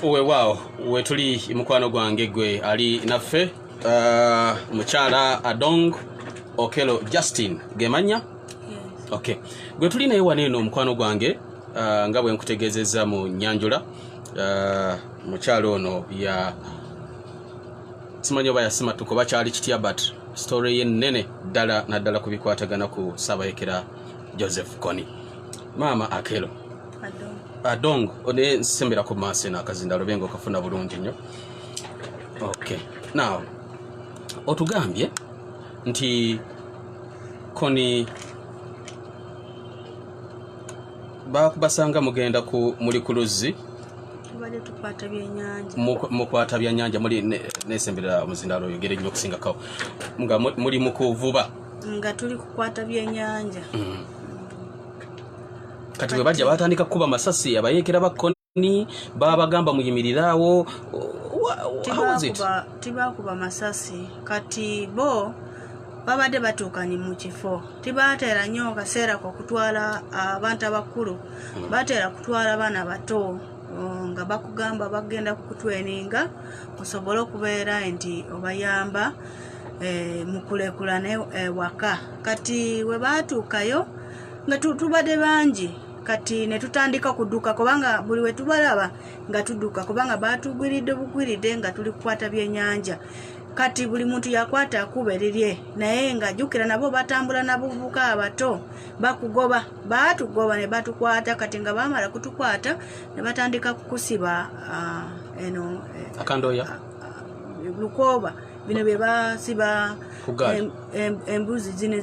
wewaawo wetuli mukwano gwange gwe ali naffe uh, mukyala adong okelo justin gemanya okay gwe tuli naye wano eno omukwano gwange uh, nga bwe nkutegeezezza mu nyanjula uh, mukyala ono ya simanyi oba yasimatuka oba kyali kitya but story ye nene ddala naddala ku bikwatagana ku saabayekera joseph coni maama akelo adong ne nsembera ku maaso eno akazinda lube nga okafuna bulungi nnyo okay now otugambye nti koni bakubasanga mugenda ku muli ku luzzi mukwata byanyanja muli nesembera omuzindalo oyogere nnyo okusingako nga muli mukuvuba nga tuli kukwata byenyanja mm. kati bwe bajja batandika kukuba masasi abayeekera ba koni babagamba muyimirire awo tibakuba masasi kati bo babadde batuukanye mu kifo tibateera nnyo kaseera kokutwala ah, abantu abakulu hmm. bateera kutwala baana bato oh, nga bakugamba bagenda kukutweninga osobole okubeera nti obayamba eh, mukulekulane eh, waka kati we baatuukayo nga tubadde bangi kati ne tutandika kuduka kubanga buli we tubalaba nga tuduka kubanga baatugwiridde bugwiridde nga tuli kukwata byenyanja kati buli muntu yakwata akuba erirye naye nga jukira nabo batambula nabuvubuka abato bakugoba baatugoba ne batukwata kati nga bamala kutukwata ne batandika kukusiba uh, eno eh, akandoya uh, ah, ah, lukooba bino bye basiba embuzi zino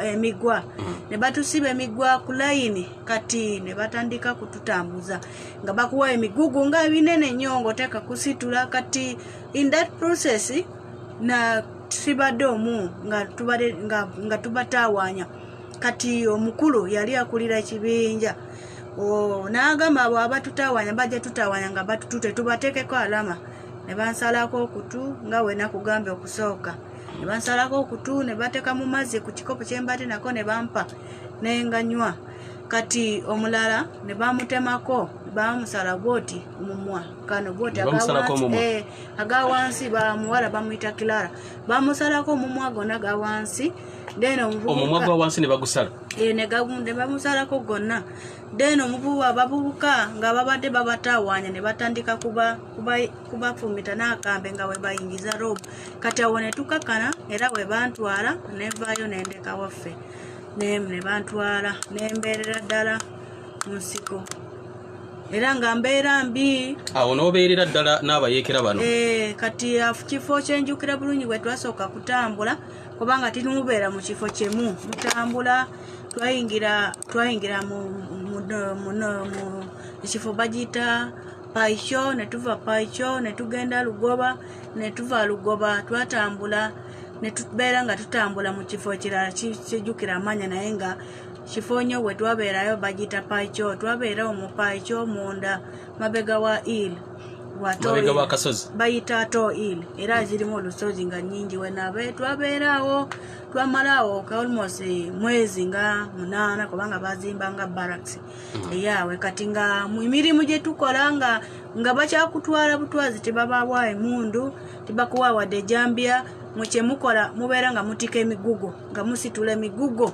emigwa mm. ne batusiba emigwa ku layini kati ne batandika kututambuza nga bakuwa emigugu nga ebinene nnyo ngaoteeka kusitula kati in that process na tusibadde omu nga tubatawaanya kati omukulu yali akulira ekibinja n'agamba abo abatutawaanya bajja tutawaanya nga batututetubateekeko alama ne bansalako okutu nga wena kugambe okusooka ne bansalako okutu ne bateeka mu mazzi ku kikopo kye mbadde nako ne bampa ne nganywa kati omulala ne bamutemako bamusala bwoti omumwa kano bwoti eh, aga wansi bamuwala bamuyita kilara bamusalako omumwa gona ga wansi then omumwa gwa wansi ne bagusala eh, ne bamusalako gonna then omuvubuka abavubuka nga babadde babatawaanya ne batandika kubafumita n'akambe nga we bayingiza rob kati awo ne tukakana era we bantwala nevaayo nendeka waffe nemu ne bantwala nembeerera ddala mu nsiko era nga mbeera mbi awo n'obeerera ddala n'abayeekera bano eh, kati kifo kyenjukira bulungi bwe twasooka kutambula kubanga tirimubeera mu kifo kimu mutambula twayingira twayingira mu ekifo bagiyita paikyo ne tuva paikyo ne tugenda lugoba ne tuva lugoba twatambula ne tubeera nga tutambula mu kifo ekirala kijjukira amaanya naye nga kifo nyo we twabeerayo bagiyita paikyo twabeera omu paikyo munda mabega wa il mabega wa kasozi bayita to il era zirimu olusozi nga nyingi wenabe twabeeraawo twamalawo ka almost mwezi nga munaana kubanga bazimba nga barracks mm. eyawe kati nga mumirimu gyetukola nga nga bakyakutwala butwazi tebabawa emundu tebakuwa wadde ejambya mukyemukola mubeera nga mutika emigugo nga musitula emigugo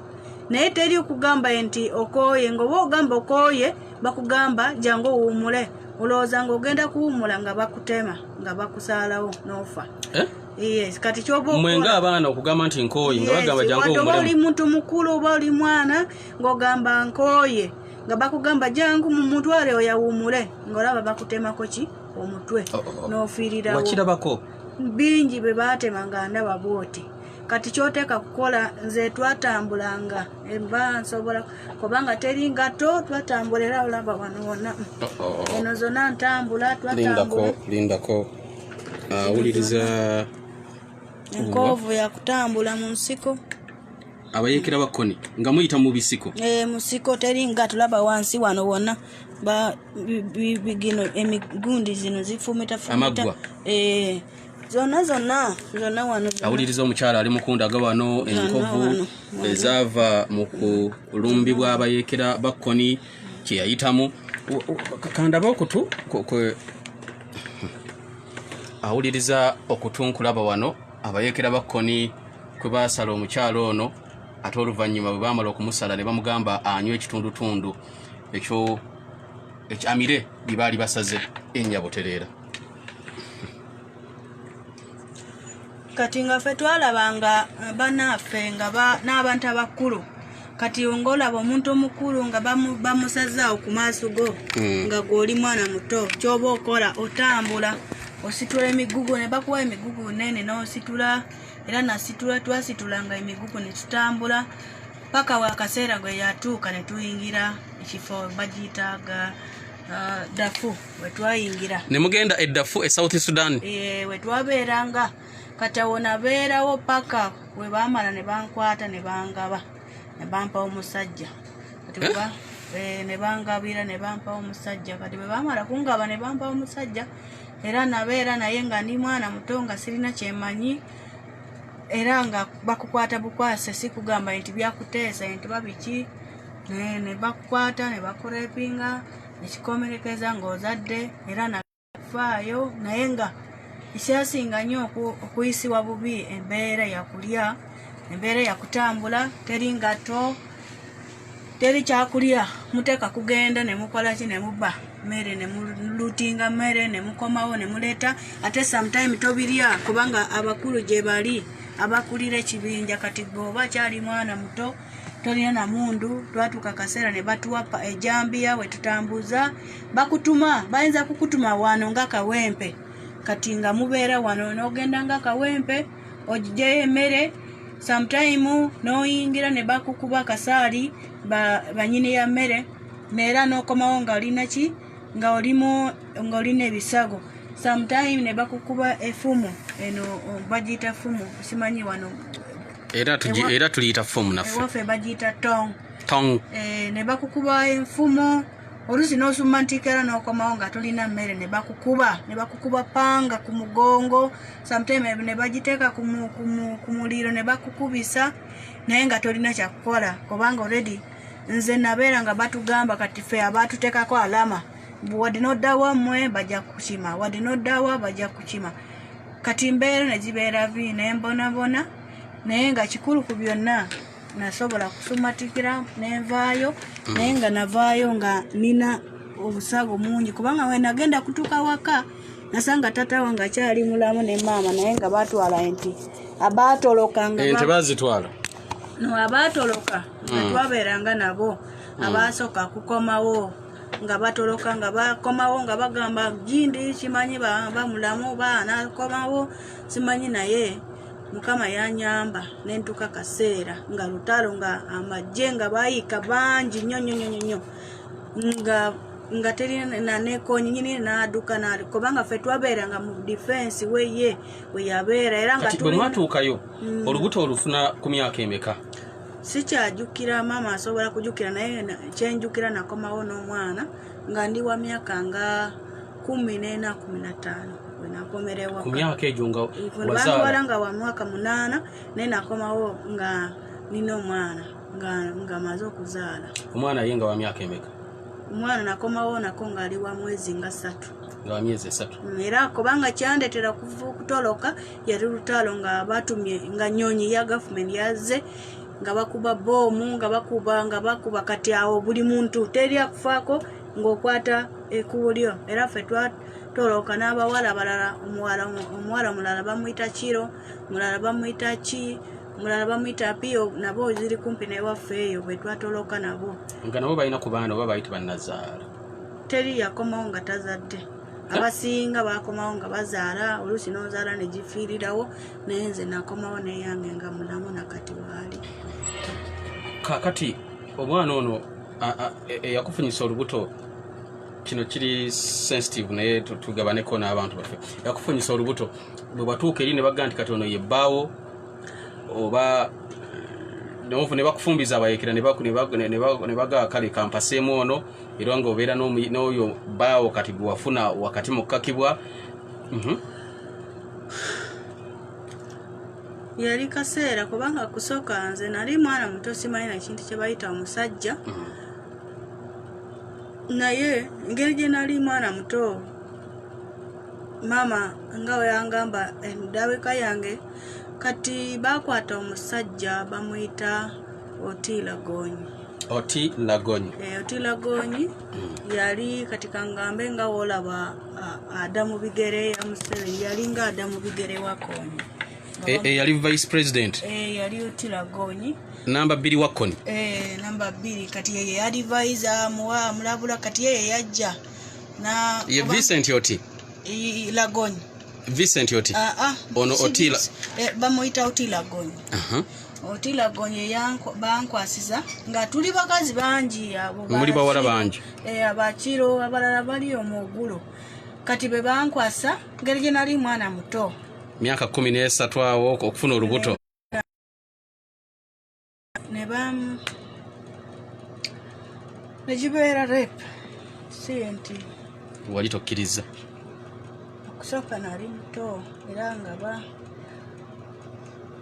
naye teri okugamba nti okooye ngaoba ogamba okooye bakugamba jangu owuumule olowooza ngaogenda kuwuumula nga bakutema nga bakusaalawo noofa eh? Yes, kati kyoba mwe nga abaana okugamba nti nkooye nga bagamba jangu omulemu. Watoba oli muntu mukulu oba oli mwana ng'ogamba nkooye nga bakugamba jangu mu mutwale oyawumule ng'olaba bakutemako ki omutwe oh, oh, oh. n'ofiirirawo. Wakirabako. Bingi bwe baatema nga ndaba bwoti. Kati kyoteeka kukola nze twatambulanga emba nsobola kubanga teri ngatto twatambula era olaba wano wonna. Eno zonna ntambula twatambula. Lindako, lindako. awuliriza enkoovu yakutambula mu nsiko abayekera bakoni nga muyita mu bisiko e, musiko teri nga tulaba wansi wano wona bigino emigundi zino zifumita fumita e, zonna zonna zonna wano awuliriza omukyala ali mukunda aga wano enkovu ezaava mu kulumbibwa abayekera bakoni kyeyayitamu kakandaba okutu awuliriza okutunkulaba wano abayekera bakkoni kwe baasala omukyalo ono ate oluvannyuma bwe baamala okumusala ne bamugamba anywa ekitundutundu ekyo ekyamire bye baali basaze enyabutereera kati nga ffe twalaba nga banaffe nga n'abantu abakulu kati ng'olaba omuntu omukulu nga bamusazaawo ku maaso go hmm. nga gw'oli mwana muto kyoba okola otambula ositula emigugu ne bakuwa emigugu nene n'ositula era nasitula twasitula nga emigugu ne tutambula paka wakaseera gwe yatuuka ne tuyingira ekifo bagiyitaaga uh, dafu wetwayingira ne mugenda eddafu e south sudan e, wetwabeeranga kati awo nabeerawo paka we baamala ne bankwata ne bangaba ne bampa omusajja kati eh? eh, ne bangabira ne bampa omusajja kati bwe baamala kungaba ne bampa omusajja era nabeera naye nga ndi mwana muto nga sirina kyemanyi era nga bakukwata bukwase si kugamba nti byakuteesa nti babiki ne bakukwata ne bakurepinga ekikomerekeza ng'ozadde era nafaayo naye nga ekyasinga nnyo okuyisibwa bubi embeera yakulya embeera yakutambula teri ngatto teri kyakulya muteeka kugenda nemukola ki nemubba mmere nemulutinga mmere nemukomawo nemuleeta ate sometime tobirya kubanga abakulu gye bali abakulira ekibinja kati gwe oba kyali mwana muto tolina na mundu twatuuka akaseera ne batuwa ejambiya eh, wetutambuza bakutuma bayinza kukutuma wano nga kawempe kati nga mubeera wano nogenda nga kawempe ogijeyo emere sometime noyingira ne bakukuba akasaali banyini ya mmere neera nokomawo nga olina ki nga olimu nga olina ebisago sometime ne bakukuba efumu eno bagiyita fumu simanyi wano era tuji era tuliyita fomu naffe waffe bagiyita tong tong eh, ne bakukuba enfumo oluusi n'osumma ntiikera n'okomawo nga tulina mmere ne bakukuba ne bakukuba panga ku mugongo sometime ne bagiteeka ku muliro ne bakukubisa naye nga tolina kyakukola kubanga olredi nze nabeera nga batugamba kati fe abatuteekako alama wadde noddawa mmwe bajja kukima wadde noddawa bajja kukima kati mbeera ne gibeera bi ne mbonabona naye nga kikulu ku byonna nasobola kusumatikira nenvaayo mm. naye nga navaayo nga nina obusago mungi kubanga wenagenda kutuka waka nasanga tata wange akyali mulamu ne maama naye nga batwala nti abatoloka nti bazitwala no abatoloka mm. twabeeranga nabo mm. abasooka kukomawo nga batoloka nga bakomawo nga bagamba jindi kimanyi bamulamu baana komawo simanyi naye mukama yanyamba nentuka kaseera nga lutalo nga amajje nga bayiika bangi nyo nyo nyo nyo nga nga teri nanekonyi nyini naduka nali kubanga fe twabeera nga mu defense weye weyabeera era nga bwemwatuukayo mm. olubuto olufuna ku myaka emeka sikyajukira maama asobola kujukira naye kyenjukira nakomawo n'omwana nga ndi wa myaka nga kumi n'ena kumi na ttaano wenakomerewabawala nga wa mwaka munaana naye nakomawo nga nina omwana nga maze okuzaala omwana ye nga wa myaka emeka omwana nakomawo nako ngaali wa mwezi nga ssatu nga wa myezi esatu era kubanga kyandetera kutoloka yali lutaalo nga batumye nga nyonyi ya gavumenti yazze nga bakuba boomu nga bakuba nga bakuba kati awo buli muntu teri akufaako ng'okwata ekubo lyo era ffe twatolooka n'abawala balala omuwala mulala bamuyita kiro mulala bamuyita ki mulala bamuyita piyo nabo ziri kumpi newaffe eyo bwe twatolooka nabo nga nabo balina ku baana oba bayita bannazaala teri yakomawo nga tazadde abasinga bakomawo nga bazaala oluusi nozaala negifiirirawo naye nze nakomawo neyange nga mulamu nakati waali kakati omwana ono e, eyakufunyisa olubuto kino kiri sensitive naye tugabaneko n'abantu baffe eyakufunyisa olubuto bwe batuuka eri ne bagga nti kati ono yebbaawo oba ne bakufumbiza abayekera ne bagaa kale kampaseemu ono era nga obeera n'oyo baawo kati gwewafuna wakati mu kukakibwa mhm. yali kaseera kubanga kusooka nze nali mwana muto simanyi na kintu kye bayita omusajja mhm. naye engeri gye nali mwana muto maama nga weyangamba endabika yange kati bakwata omusajja bamuyita oti lagonyi oti lagonyi eh, oti lagonyi mm. yali kati kangambe nga wolaba ada mu bigere ya museveni yali nga ada mu bigere wakonyi eyali eh, eh, vice president yali oti lagonyi namba bbiri wakkoni eh, namba bbiri kati yeye yadivise amuwa amulabula kati yeye yajja ye vincent oti lagony vincent oti ah, ah, ono otila eh, bamuyita oti lagony Otila Gonye bankwasiza nga tuli bakazi bangi abo muli bawala bangi eh abakiro abalala bali omugulo kati be bankwasa ngeri gye nali mwana muto myaka kumi n'esatu awo okufuna olubuto ne bam ne gibeera rep si nti wali tokkiriza okusooka nali muto era nga ba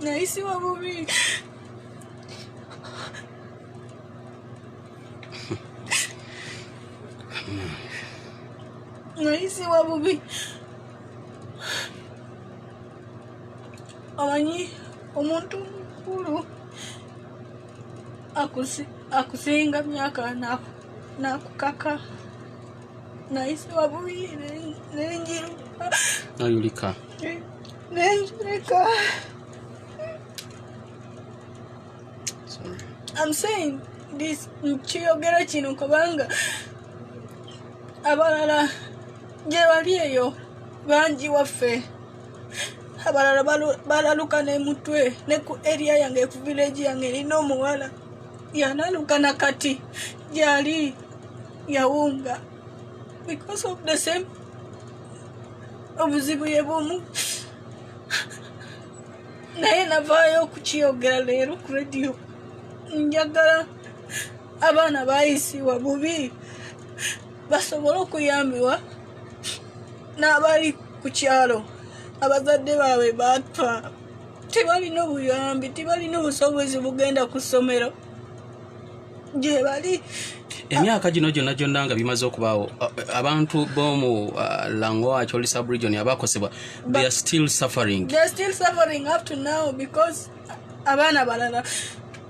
Nahisi wa mimi. Nahisi wa mimi. Amanyi omuntu mukulu akusinga myaka nakukaka naisi wabuyi nenjiruka nayulika nenjulika I'm saying this nkiyogera kino kubanga abalala gye bali eyo bangi waffe abalala balaluka nemutwe ne ku eria yange ku vileji yange erina omuwala yanaluka na kati gyali yawunga because of the same obuzibu ye bumu naye navaayo okukiyogera leero ku rediyo njagala abaana bayisiwa bubi basobole okuyambibwa n'abali ku kyalo abazadde baabwe baatwa tebalina obuyambi tebalina obusobozi bugenda ku ssomero gyebali emyaka gino gyonna gyonna nga bimaze okubaawo abantu bomu uh, langoach oli subregion abakosebwa they are still suffering they are still suffering up to now because abaana balala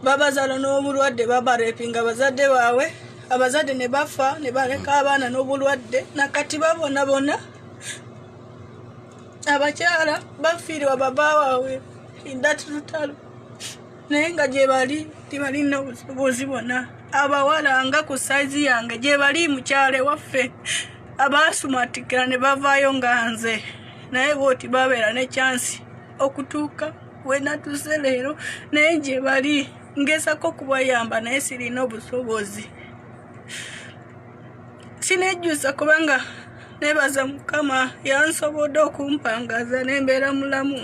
babazala n'obulwadde babarepinga abazadde baabwe abazadde ne bafa ne baleka abaana n'obulwadde nakati babona bona abakyala bafiirwa baba waabwe indati lutalo naye nga gyebali tibalina busobozi bona abawala nga ku saizi yange gyebali mukyale waffe abaasumatikira ne bavaayo nga nze naye bwoti babeera ne kyansi okutuuka wenatuuse leero naye gye bali ngezako okubayamba naye sirina obusobozi sinejjusa kubanga nebaza mukama yansobodde okumpangaza nembeera mulamu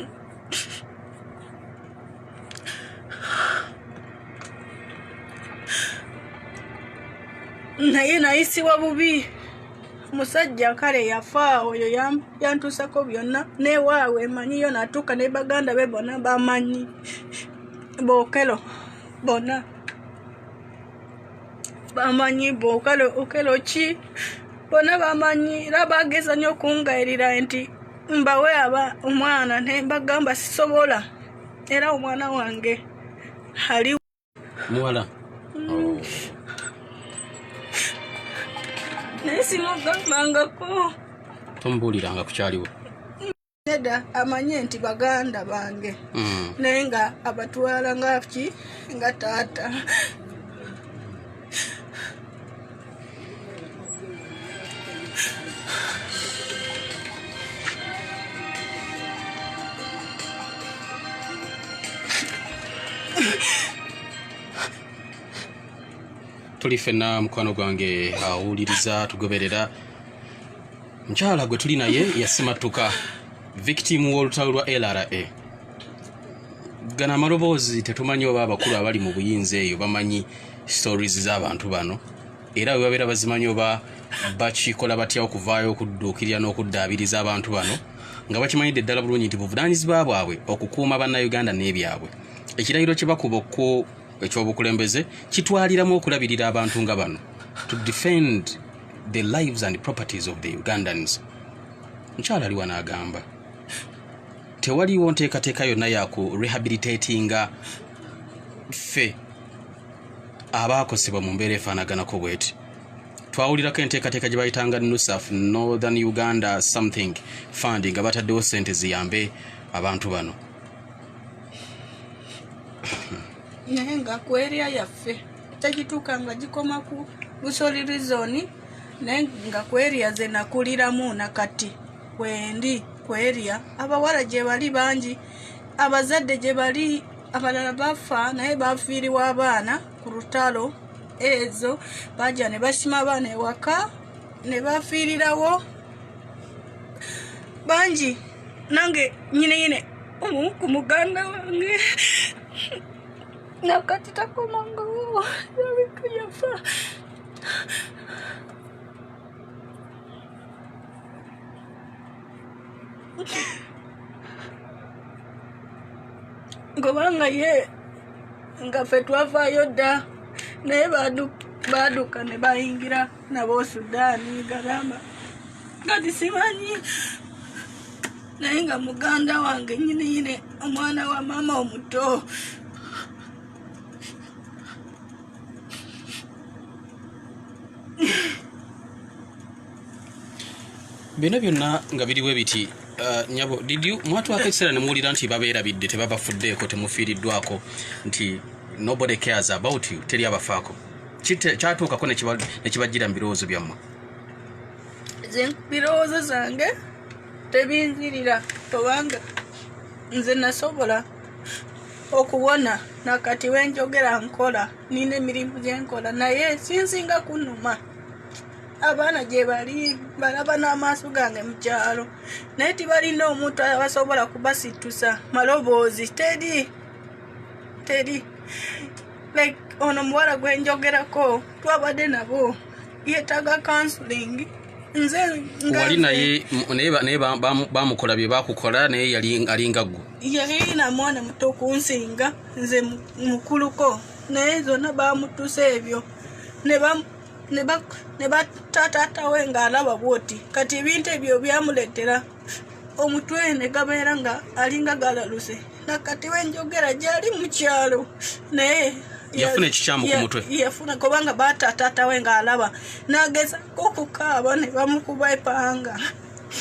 naye nayisibwa bubi musajja kale yafa oyo yantusako byonna newaawe emanyiyo natuuka ne baganda be bona bamanyi bokelo bona bamanyi bokelo okelo ki bona bamanyi era bageza nyo okungayirira nti mbawe aba omwana nembagamba sisobola era omwana wange ali muwala oh. naye simugambangako tomubuuliranga ku kyaliwo neda amanye nti baganda bange hmm. naye nga abatwala ngaki nga taata tuli fenna mukwano gwange awuliriza tugoberera mukyala gwe tuli naye yasimattuka victim w'olutalo lwa lra gana amaloboozi tetumanyi oba abakulu abali mu buyinza eyo bamanyi stories z'abantu bano era bwe babeera bazimanyi oba bakikola batya okuvaayo okudduukirira n'okuddaabiriza abantu bano nga bakimanyidde ddala bulungi nti buvunaanyizibwa bwabwe okukuuma bannayuganda n'ebyabwe ekirayiro kye bakuba okku ekyobukulembeze kitwaliramu okulabirira abantu nga bano to defend the lives and properties of the ugandans mukyalo aliwa n'agamba tewaliwo nteekateeka yonna yaku rehabilitatinga ffe abaakosebwa mu mbeera efaanaganako bweti twawulirako enteekateeka gye bayitanga nusaf northern uganda something fund nga bataddewo sente ziyambe abantu bano naye nga ku eria yaffe tegituuka nga gikoma ku busoli rizoni naye nga ku eria ze nakuliramu nakati kwendi ku eria abawala gye bali bangi abazadde gye bali abalala bafa naye bafiiriwa abaana ku lutalo ezo baja ne basima abaana ewaka ne bafiirirawo bangi nange nyine nyine omu ku muganda wange nakati takomangawo yabika yafa ngobanga ye nga fe twavaayo dda naye baaduka ne bayingira nabo sudaani garama kati simanyi naye nga muganda wange nyini yine omwana wa maama omuto bino byonna nga biriwe biti uh, nyabo mwatwako ekiseera ne muwulira nti babeerabidde tebabafuddeeko temufiiriddwako nti nobody cares about you teri abafaako kyatuukako nekibajjira mu birowoozo byammwe birowoozo zange tebinzirira obanga nze nasobola okuwona nakati wenjogera nkola nina emirimu gyenkola naye sinsinga kunuma abaana gye bali balaba n'amaaso gange mu kyalo naye tibalina omuntu abasobola kubasitusa maloboozi teri teri like ono muwala gwe njogerako twabadde nabo yetaaga counseling nze wali naye naye bamukola bye bakukola naye yali alinga gwo yalina mwana muto kunsinga nze mukuluko naye zonna bamutuse ebyo ne ne bataataata we ng'alaba bwoti kati ebintu ebyo byamuleetera omutwe ne gabeera nga alinga galaluse nakati wenjogera gyali mu kyalo naye yafuna ekikyamu ku mutwe yafuna kubanga baataataata we ng'alaba n'agezako okukaaba ne bamukuba epanga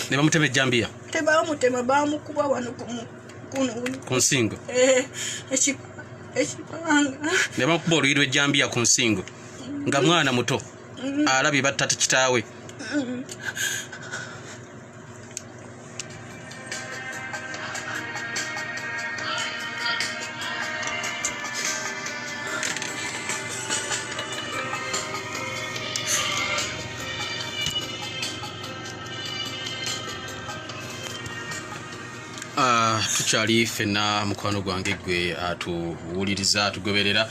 ne bamutema ejjambiya tebamutema bamukuba wano ku nsingo eh, ekipanga ne bamukuba oluyi lw'ejjambiya ku nsingo nga mwana muto alabye batta kitaawe Ah, tukyali fenna mukwano gwange gwe atuwuliriza ah, atugoberera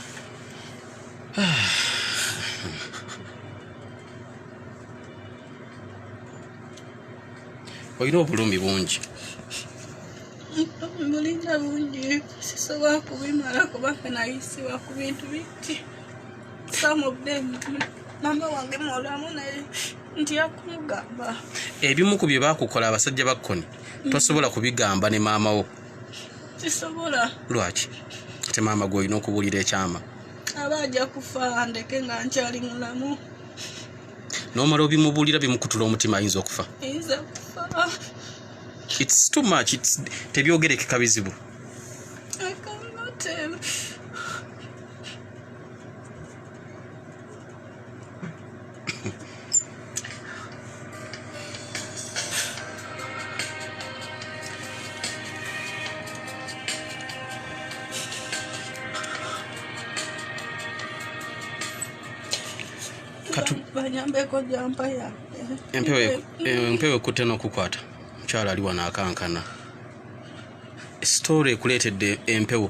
olina obulumi bungi bulina bungi sisobola kubimala kubanga nayisibwa ku bintu bitti some of them mama wange mulamu naye ntya kumugamba ebimu ku bye bakukola abasajja bakkoni tosobola kubigamba ne maama wo sisobola lwaki ate maama gwe olina okubuulira ekyama aba ajja kufa ndeke nga nkyali mulamu nomala obimubuulira bimukutula omutima ayinza okufa its too much its tebyogerekeka bizibu empewo eh, ekutte n'okukwata mukyala ali wano akankana sitoola ekuleetedde empewo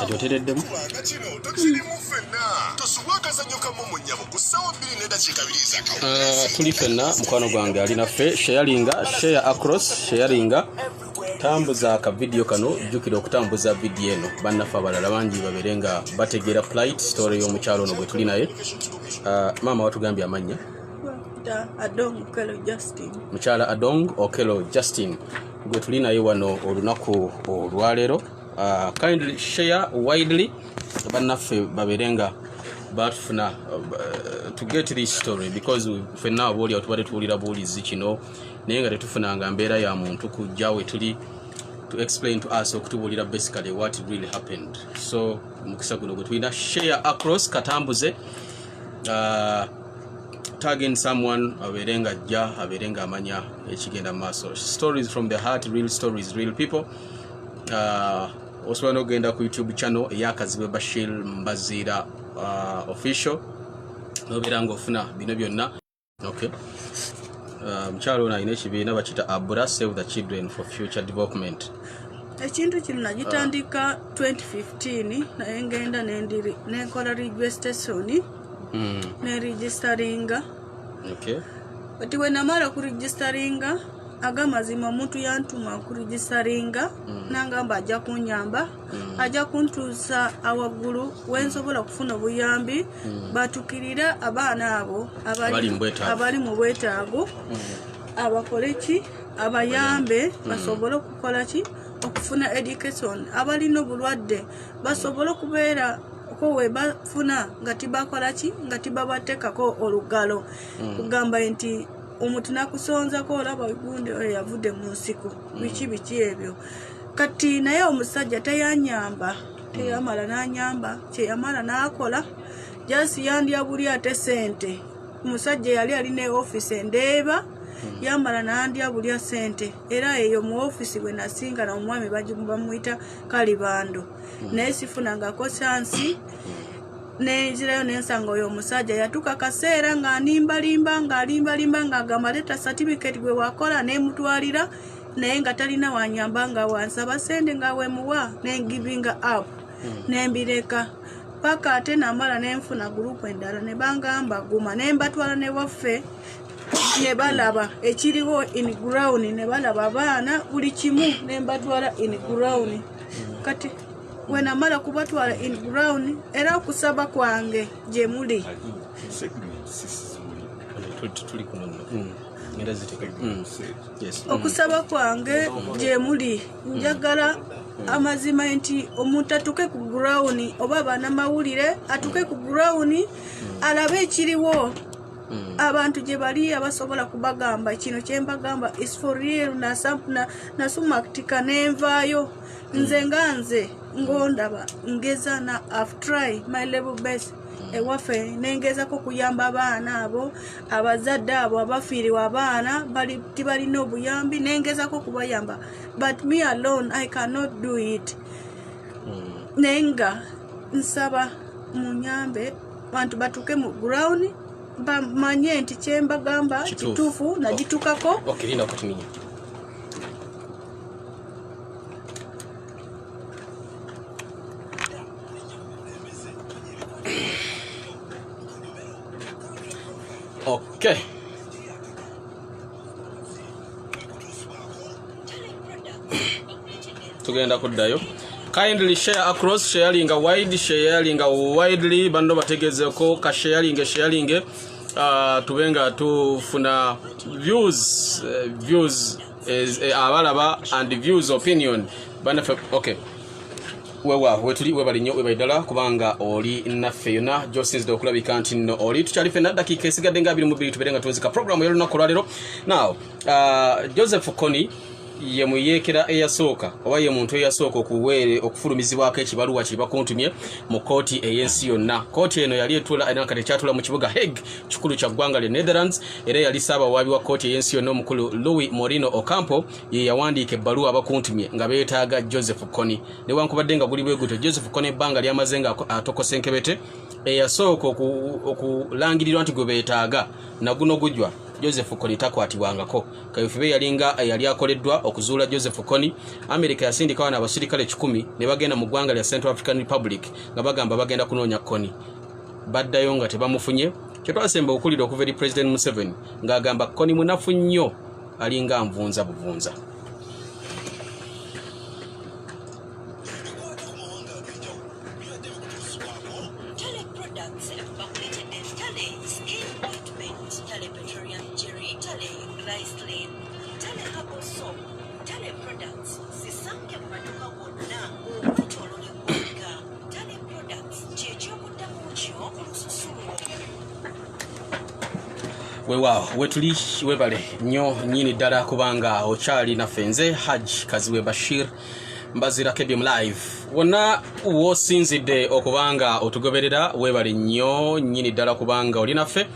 kati otereddemu ah, tuli fenna mukwano gwange ali naffe sharinga share across sharinga tambuza ka video kano jjukira okutambuza video eno bannaffe abalala bangi babeere nga bategeera plite story y'omukyalo ono gwe tuli naye ah, maama watugambye amannya mukyala adong okelo justin gwe tuli naye wano olunaku olwaleero uh, kindly share widely bannaffe babeere nga batufuna uh, to get this story because fenna aboolyawo tubadde tuwulira buwulizi kino naye nga tetufunanga mbeera ya muntu kujja we tuli to explain to us okutubuulira basically what really happened so mukisa guno gwe tulina share across katambuze uh, tagging someone abeere nga ajja abeere nga amanya ekigenda maaso stories from the heart real stories real people uh, osobola nokugenda ku youtube channel eyakazibwe bashir mbaziira uh, official nobeera ngaofuna bino byonna okay uh, mukyalo um, ono alina ekibiina bakita abura save the children for future development ekintu kino nagitandika 2015 ah. naye ngenda nenkola registration hmm. neregistaringa but wenamala kuregistaringa agamazima omuntu yantuma kuregistaringa hmm. nangamba ajja kunyamba mm. ajja kuntuusa awaggulu wensobola okufuna obuyambi mm. batukirire abaana abo abali mu bwetaago mm. abakole ki abayambe mm. basobole okukola ki okufuna education abalina obulwadde basobole okubeera ko webafuna nga tibakola ki nga tibabatekako olugalo mm. kugamba nti omuntu nakusonzako olaba gundi oyo yavudde mu nsiko biki biki ebyo kati naye omusajja teyanyamba teyamala nanyamba kyeyamala nakola jasi yandya buli ate sente omusajja yali alina eofisi endeeba hmm. yamala nandya bulya sente era eyo mu ofisi bwe nasinga na omwami bamuyita kalibando hmm. naye sifunangako kyansi hmm. nenzirayo nensanga oyo omusajja yatuka kaseera nga animbalimba nga alimbalimba nga agamba leta certificate gwe wakola nemutwalira naye nga talina wanyamba nga wansaba sente nga wemuwa nengivinga up hmm. nembireka paka ate namala nenfuna gurupu endala nebangamba guma nembatwala newaffe nebalaba ekiriwo in ground nebalaba abaana buli kimu nembatwala in ground hmm. kati wenamala kubatwala in ground era okusaba kwange gyemuli hmm. Mm. okusaba kwange gyemuli njagala amazima nti omuntu atuke ku gurawuni oba abaana mawulire atuke ku gurawuni mm. alabe ekiriwo Mm. abantu gye bali abasobola kubagamba kino kyembagamba is for real nasumaktika na, na nenvaayo mm. nze nga nze ngondaba ngeza na after try my level best ewaffe nengezako okuyamba abaana abo abazadde abo abafiiriwa abaana tibalina obuyambi nengezako okubayamba but me alone i cannot do it hmm. naye nga nsaba munyambe bantu batuuke mu ground bamanye nti kyembagamba kituufu nagitukako okay, Okay. tugenda kuddayo kindly share across sharinga wide sharinga widely banno bategezeko ka sharinge sharinge uh, tube nga tufuna views uh, views is eh, abalaba and views opinion banafe okay wewa wetuli webali nyo webali dala kubanga oli nafe yona josins do kulabi kanti no oli tuchali fe nada kike siga denga bili mubili tuberenga tuwezika programu yelo na kulalero now uh, joseph koni ye muyekera eyasoka oba ye muntu eyasoka okuwere okufulumizibwa ke kibalu wa kiba kuntumye mu koti eyensi yona koti eno yali etula ina kati chatula mu kibuga heg chukulu cha gwanga le netherlands era yali ssaabawaabi wa kkooti ey'ensi yonna omukulu louis morino ocampo ye yawandiika ebbaluwa abakuntumye nga beetaaga joseph kony newankubadde nga guli bwegutyo joseph kony ebbanga lyamaze nga atokosa enkebete eyasooka okulangirirwa nti gwe beetaaga naguno gujwa joseph kony takwatibwangako kayofube yalinga yali akoleddwa okuzuula joseph kony amerika yasindikawo naabasirikale kikumi ne bagenda mu ggwanga lya central african republic nga bagamba bagenda kunoonya kony baddayo nga tebamufunye kyetwasemba okuwulira okuva eri president museveni ng'agamba koni munafu nnyo alinga nvunza buvunza wewaawo wetuli webale nyo nyini ddala kubanga okyali naffe nze haj kaziwe bashir mbazira kedium live wonna wosinzidde okubanga otugoberera webale nyo nyini ddala kubanga oli naffe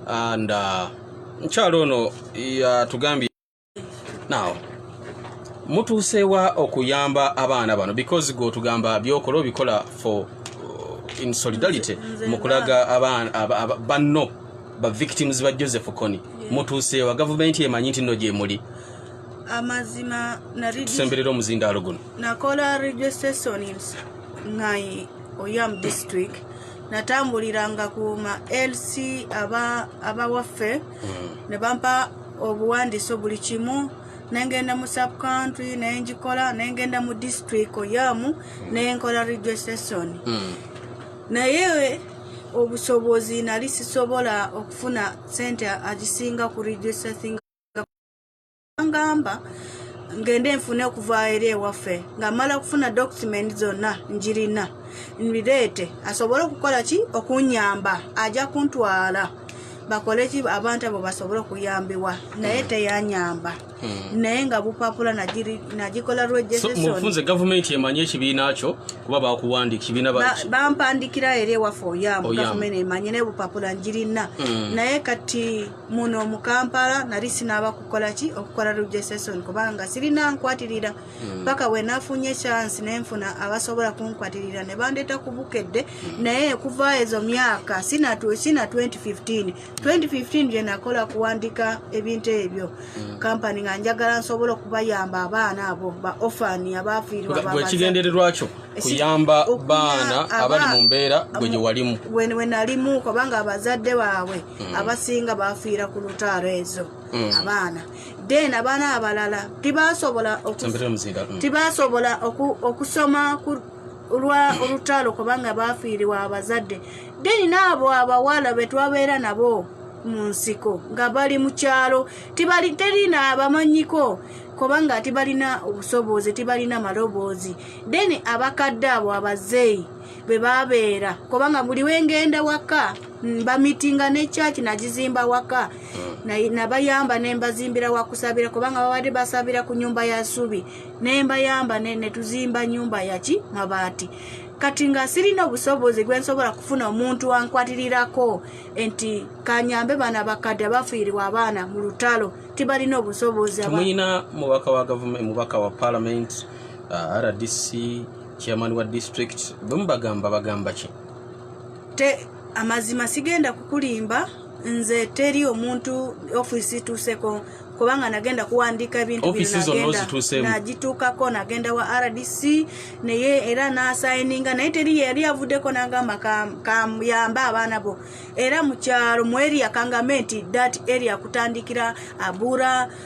and uh, nkyalo ono yatugambye now mutuuseewa okuyamba abaana bano because gwotugamba byokola obikola for uh, in solidarity mukulaga banno ba victims ba joseph kony mutuuseewa gavumenti emanyi nti no gyemuli amazima tusemberera omuzindaalo guno nakola registrations ngai oyam district natambuliranga kuma lc abawaffe aba mm. ne bampa obuwandiso buli kimu nengenda mu sub country nengikola nengenda mu district oyamu nenkola registration mm. naye obusobozi nali sisobola okufuna sente agisinga ku registration ngamba ngende nfune okuva eri ewaffe nga mala okufuna document zonna njirina nbireete asobole okukola ki okunyamba ajja kuntwala bakole ki abantu abo basobole okuyambibwa naye teyanyamba hmm. naye nga bupapula nagikola lwejefunze gavumenti emanyi ekibiina kyo kuba bakuwandika kibiina bampandikira eri ewaffe oyambu gavumenti emanyi naye bupapula njirina hmm. naye kati muno mu kampala nali sinaaba kukola ki okukola rejeseson kubanga sirina nkwatirira hmm. paka mm. wenafunye chance nenfuna abasobola kunkwatirira ne bandeeta ku bukedde mm. naye kuva ezo myaka sina, tu, sina 2015 2015 gye nakola kuwandika ebintu ebyo mm. kampani nga njagala nsobola okubayamba abaana abo ba ofani abaafiirwaekigendererwakyo kuyamba baana abali mu mbeera gwe gye walimu wenalimu kubanga abazadde baabwe mm. abasinga bafiira ku lutaalo ezo mm. abaana then abaana abalala tibasobola tibasobola okusoma lwa olutalo kubanga bafiiriwa abazadde then naabo abawala betwabeera nabo mu nsiko nga bali mu kyalo terina abamanyiko kubanga tibalina obusobozi tibalina maloboozi then abakadde abo abazeeyi bwe babeera kubanga buli wengenda waka bamitinga ne church nagizimba waka nabayamba na nembazimbira wakusabira kubanga babadde basabira ku nyumba ya subi nembayamba netuzimba nyumba yaki mabaati kati nga sirina obusobozi gwensobola kufuna omuntu ankwatirirako nti kanyambe bana bakadde abafiiribwa abaana mu lutalo tibalina obusobozi mubaka wa gavumenti mubaka wa palamenti uh, rdc chairman wa district bwemubagamba bagamba ki te amazima sigenda kukulimba nze teri omuntu office tuseko kubanga nagenda kuwandiika ebintu binagituukako nagenda wa rdc naye era nasayininga naye teri yeyali avuddeko nagamba kayambe abaana bo era mukyalo mu eria kangame nti dat eria kutandikira abura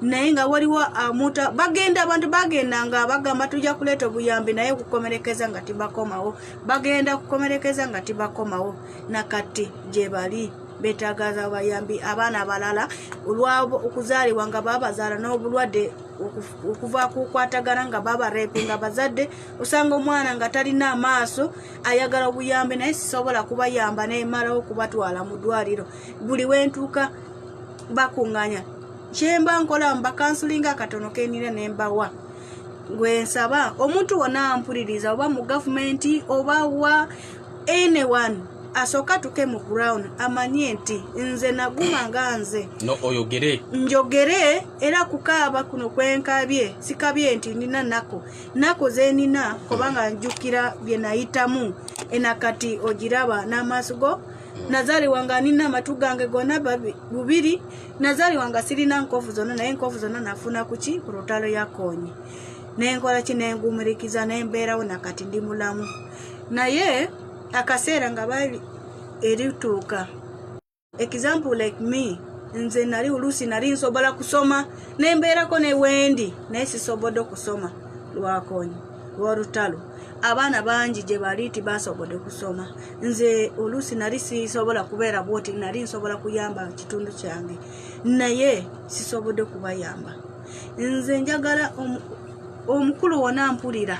naye nga waliwo amuta ah, bagenda abantu bagenda nga bagamba tujja kuleeta obuyambi naye kukomerekeza nga tibakomawo bagenda kukomerekeza nga tibakomawo nakati gyebali betagaza abayambi abaana abalala olwabo okuzaalibwa nga babazaala n'obulwadde okuva kukwatagana nga babarepe nga bazadde osanga omwana nga talina amaaso ayagala obuyambi naye sisobola kubayamba nemalawo okubatwala mu ddwaliro buli wentuuka bakunganya kyemba nkola mba kansulinga akatono kenina nembawa gwensaba omuntu wona ampuliriza oba mu gavumenti oba wa anyone asooka tuke mu ground amanye nti nze naguma nga nze oyogere njogere era kukaaba kuno kwenkabye sikabye nti nina nako nako zenina kubanga njukira byenayitamu enakati ogiraba n'amaaso go nazaliwa nga nina amatu gange gona bubiri nazaliwa nga sirina nkovu zonna naye enkovu zonna nafuna kuki ku lutalo yakonye nenkola ki nengumirikiza nembeerawo nakati ndi mulamu naye akaseera nga bali erituuka example like me nze nali oluusi nali nsobola kusoma nembeerako newendi naye sisobodde okusoma lwakonyi lwolutalo abaana bangi gye bali ti basobodde kusoma nze oluusi nali sisobola kubeera bwoti nali nsobola kuyamba kitundu kyange naye sisobodde kubayamba nze njagala omukulu wona mpulira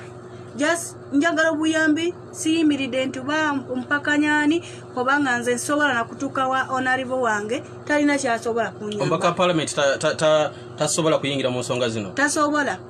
just njagala obuyambi siyimiridde nti ba mpakanyani obanga nze nsobola nakutuuka wa onarivo wange talina kyasobola kunyamba omubaka wa palamenti tasobola kuyingira mu nsonga zino tasobola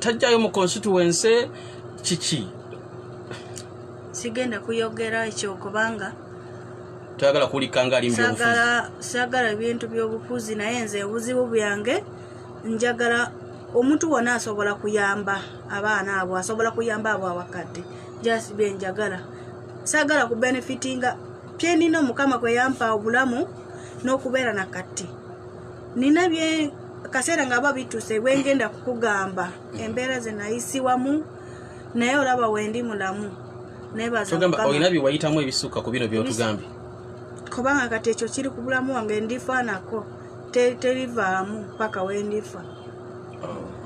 tajjayo mu constituency kiki sigenda kuyogera ekyo kubanga toyagala kuwulika nga ali sagala ebintu byobufuzi naye nze obuzibu byange njagala omuntu wona asobola kuyamba abaana abo asobola kuyamba abo abakadde just byenjagala sagala ku benefitinga kyenina omukama kweyampa obulamu n'okubeera na katti nina bye kaseera nga aba bituse bwengenda kukugamba embeera zenayisiwamu naye olaba wendi mulamu nebazaolina byewayitamu ebisukka ku bino byotugambye kubanga kati ekyo kiri ku bulamu wange ndifa nako terivaamu paka wendifa oh.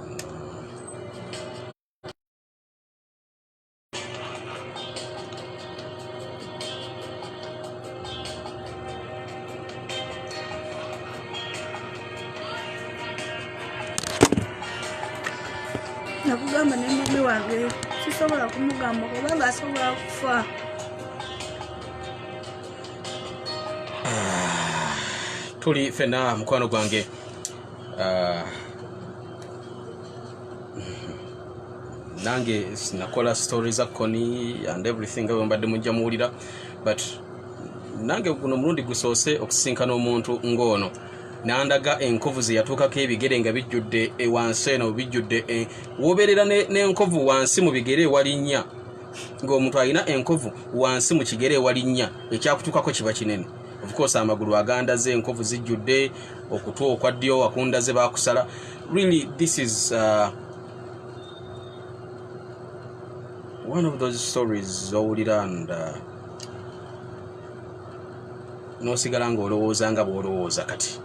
nakugamba ne mami wange sisobola kumugamba kubanga asobola kufa ah, tuli fena mukwano gwange ah. nange nakola story za koni and everything nga bwembadde mujja muwulira but nange guno mulundi gusoose okusisinkana omuntu ng'ono nandaga enkovu zeyatuukako ebigere nga bijjudde e, wansi eno bijjudde e, wobeerera n'enkovu wansi mu bigere ewalinnya ng'omuntu alina enkovu wansi mu kigere ewalinnya ekyakutuukako kiba kinene ofukoosa amagulu agandaze enkovu zijjudde okutwa okwa ddyo wakundaze bakusala really this is uh, one of those stories zowulira and uh, nosigala nga olowooza nga bwolowooza kati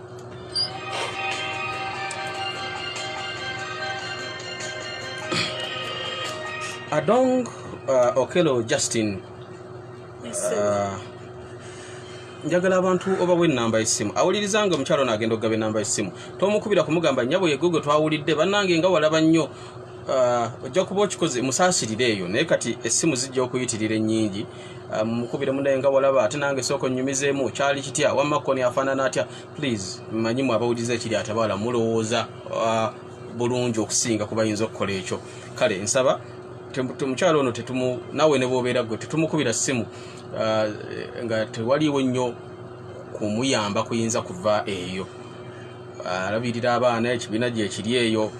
adong uh, okelo justin Ah, njagala abantu obawa enamba yesimu awuliriza nga omukyalo nagenda okugaba enamba yesimu tomukubira kumugamba nyabo yegogo twawulidde banange nga walaba nnyo ah, ojja kuba okikoze musaasirire eyo naye kati essimu zijja okuyitirira ennyingi ah, mukubire munaye nga walaba ate nange sooka onnyumizeemu kyali kitya wamma koni afaanana atya please manyimu abawuliriza ekiri atabaala mulowooza bulungi okusinga ku bayinza okukola ekyo kale nsaba omukyalo ono tetumu nawe ne bwobeera gwe tetumukubira ssimu uh, nga tewaliwo nnyo kumuyamba kuyinza kuva eyo uh, alabirira abaana ekibiina gyekiri eyo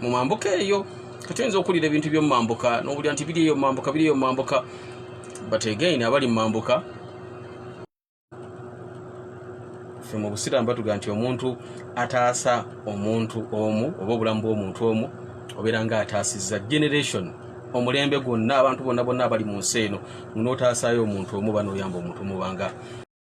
mu mambuka eyo tetuyinza okuwulira ebintu byomumambuka nowulira nti biri eyo mumambuka biri eyo mumambuka but again abali mumambuka fe mu busiraamu batuga nti omuntu ataasa omuntu omu oba obulamu bw'omuntu omu obeera nga ataasizza generation omulembe gwonna abantu bonna bonna abali mu nsi eno nonotaasaayo omuntu omu banoyamba omuntu omubanga